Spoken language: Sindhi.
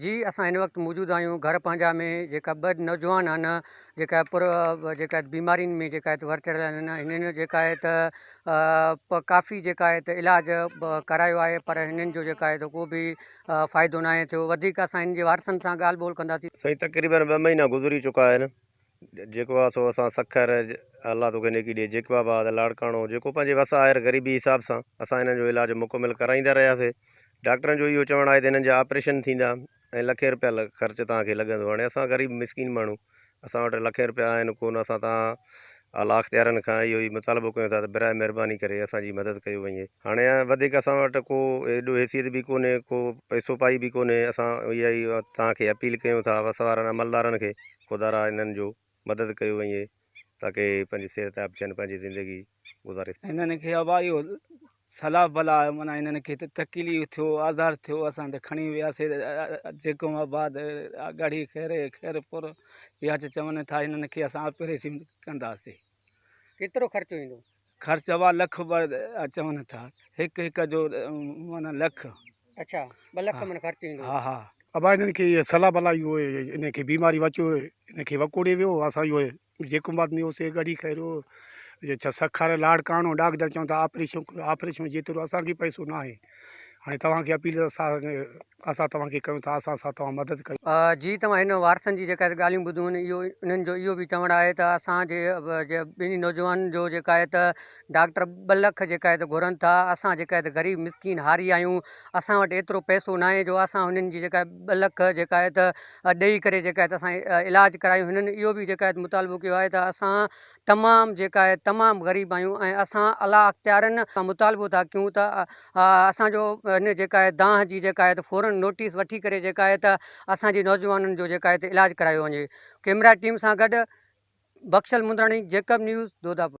جي اسان هن وقت موجود آهيون گهر پنهنجا ۾ جيڪا ٻه نوجوان آهن جيڪا پر جيڪا بيمارين ۾ جيڪا هت ور چڙهيل آهن هنن جيڪا هي ته ڪافي جيڪا هي ته علاج ڪرايو آهي پر هنن جو جيڪا هي ته ڪو بي فائدو ناهي ٿيو وڌيڪ اسان هن جي وارثن سان ڳالهه ٻولهه ڪنداسين. سائين تقريبن ٻه مهينا گذري چڪا آهن جيڪو آ سو اسان سکر الله توکي نيڪي ڏي جيڪب آباد لاڙڪاڻو جيڪو پنهنجي وس آهر غريبي حساب سان اسان هنن جو علاج مڪمل ڪرائيندا رهياسي ڊاڪٽرن جو اهو چوڻ آهي ته هنن جا آپريشن ٿيندا ۽ لکين روپيا خرچ توهان کي لڳندو هاڻي اسان غريب مسڪين ماڻهو اسان وٽ لکين روپيا آهن ڪون اسان توهان اعليٰ اختيارن کان اهو ئي مطالبو ڪيون ٿا ته برائي مهرباني ڪري اسان جي مدد ڪيو وڃي هاڻي وڌيڪ اسان وٽ ڪو ايڏو حيثيت به ڪونهي ڪو پئسو پائي به ڪونهي اسان اها ئي توهان کي اپيل ڪيون ٿا وس وارن عملدارن کي خدا را انهن جو مدد ڪيو وڃي تاڪه اهي پنهنجي صحتياب ٿين پنهنجي زندگي گذاري سگهن. انهن کي ابا اهو سلا بلا معنيٰ انهن کي تڪليف ٿيو آزار ٿيو اسان ته کڻي وياسي جيڪوم آباد ڳڙهي خيري خيرپور يا چوين ٿا انهن کي اسان آپريشن ڪنداسي. ڪيترو خرچو ايندو؟ خرچ اھا لک ٻه چون ٿا ھڪ ھڪ جو معنيٰ لک. اڇا ٻه لک من خرچ ايندو. ھا ھا. ابا انھن کي اھا صلاح بلاح اھو انھن کي بيماري وچ اھو انھن کي وڪوڙي ويو اسان اھو جيڪو بات ني ھو سي ڳڙھي کائي رھيو جي ڇا سکر لاڙ ڪاڻو ڊاڪدر چون ٿا آپريشون آپريشون جيترو اسان کي پئسو ناھي ھاڻي توھان کي اپيل اسان توهان کي ڪيون ٿا اسان سان توهان مدد ڪيو. جي توهان هن وارثن جي جيڪا هت ڳالهيون ٻڌيون آهن اهو انهن جو اهو به چوڻ آهي ته اسان جي جي ٻنهي نوجوانن جو جيڪا هت ڊاڪٽر ٻه لک جيڪا هت گهرن ٿا اسان جيڪا هت غريب مسڪين هاري آهيون اسان وٽ ايترو پئسو ناهي جو اسان هنن جي جيڪا ٻه لک جيڪا هت ڏئي ڪري جيڪا هت اسان علاج ڪرايون هنن اهو به جيڪا هت مطالبو ڪيو آهي ته اسان تمام جيڪا آهي تمام غريب آهيون ۽ اسان اعليٰ اختيارين کان مطالبو ٿا ڪيون ته اسان جو هن جيڪا آهي دانهن جي جيڪا آهي ته فورن نوٽيس وٺي ڪري جيڪا آهي ته اسان جي نوجوانن جو جيڪا آهي ته علاج ڪرايو وڃي. ڪيمرا ٽيم سان گڏ بخشل مندراڻي جيڪب نيوز دوداپور.